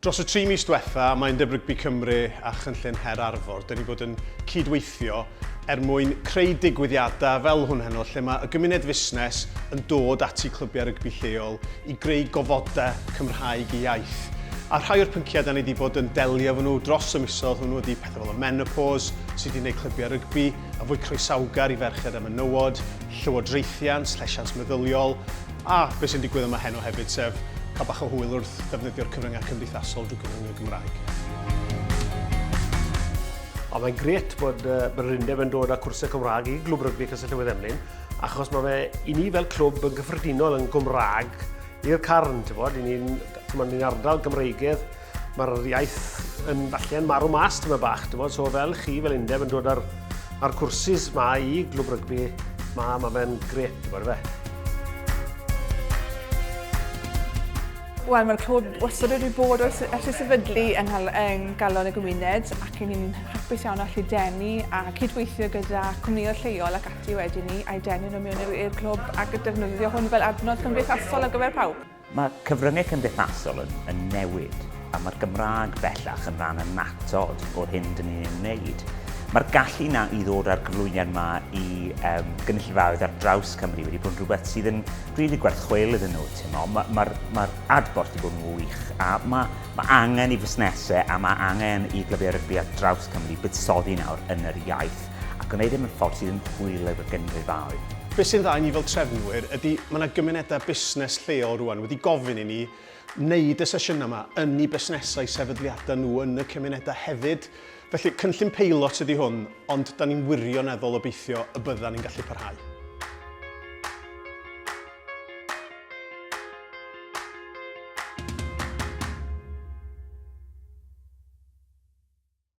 Dros y tri mis diwetha, mae Undeb Rygbi Cymru a Chynllun Her Arfor, dyn ni bod yn cyd-weithio er mwyn creu digwyddiadau fel hwn heno lle mae y gymuned fusnes yn dod ati clybiau rygbi lleol i greu gofodau Cymraeg i iaith. A rhai o'r pynciau da ni wedi bod yn delio efo nhw dros y misoedd hwnnw ydy pethau fel y menopos, sut i wneud clybiau rygbi yn fwy croesawgar i ferched a menywod, llywodraethiant, llesiant meddyliol, A beth sy'n digwydd yma heno hefyd, sef cael bach o hwyl wrth ddefnyddio'r cyfryngau cymdeithasol drwy gyfrwng y Gymraeg. Ond mae'n gret bod uh, Bererindeb yn dod â cwrsau Cymraeg i glwb rygbi Castell Newydd Emlyn, achos mae fe i ni fel clwb yn gyffredinol yn Gymraeg i'r carn, ti'n bod, i ni'n ni ardal Gymreigedd, Mae'r iaith yn falle yn marw mas tyma bach, dim ond, so fel chi, fel undeb yn dod ar, ar cwrsis ma i glwb rygbi, ma, ma fe'n gret, ti'n gwybod fe. Wel, mae'r clwb wastad wedi bod ers y sefydlu yng, yng galon y gymuned ac yn ni'n hapus iawn allu denu a cydweithio gyda cwmnïau lleol ac ati wedyn ni a'i denu nhw mewn i'r clwb ac defnyddio hwn fel adnodd cymdeithasol ar gyfer pawb. Mae cyfryngau cymdeithasol yn newid, a mae'r Gymraeg bellach yn rhan annatod o'r hyn dyn ni'n ei wneud. Mae'r gallu na i ddod â'r cyflwyniad yma i um, gynulleidfaoedd ar draws Cymru wedi bod yn rhywbeth sydd yn rili gwerth chweil iddyn nhw. Mae'r ma, ma, ma adborth wedi bod yn wych, a mae ma angen i fusnesau a mae angen i glybiau rygbi ar draws Cymru buddsoddi nawr yn yr iaith. a gwneud e mewn ffordd sydd yn hwyl ar gynghraefaoedd. Beth sy'n dda i ni fel trefnwyr ydy mae yna gymunedau busnes lleol rwan wedi gofyn i ni wneud y sesiynau yma yn eu busnesau sefydliadau nhw yn y cymunedau hefyd. Felly cynllun peilot ydy hwn ond da ni'n wirioneddol obeithio y byddan ni'n gallu parhau.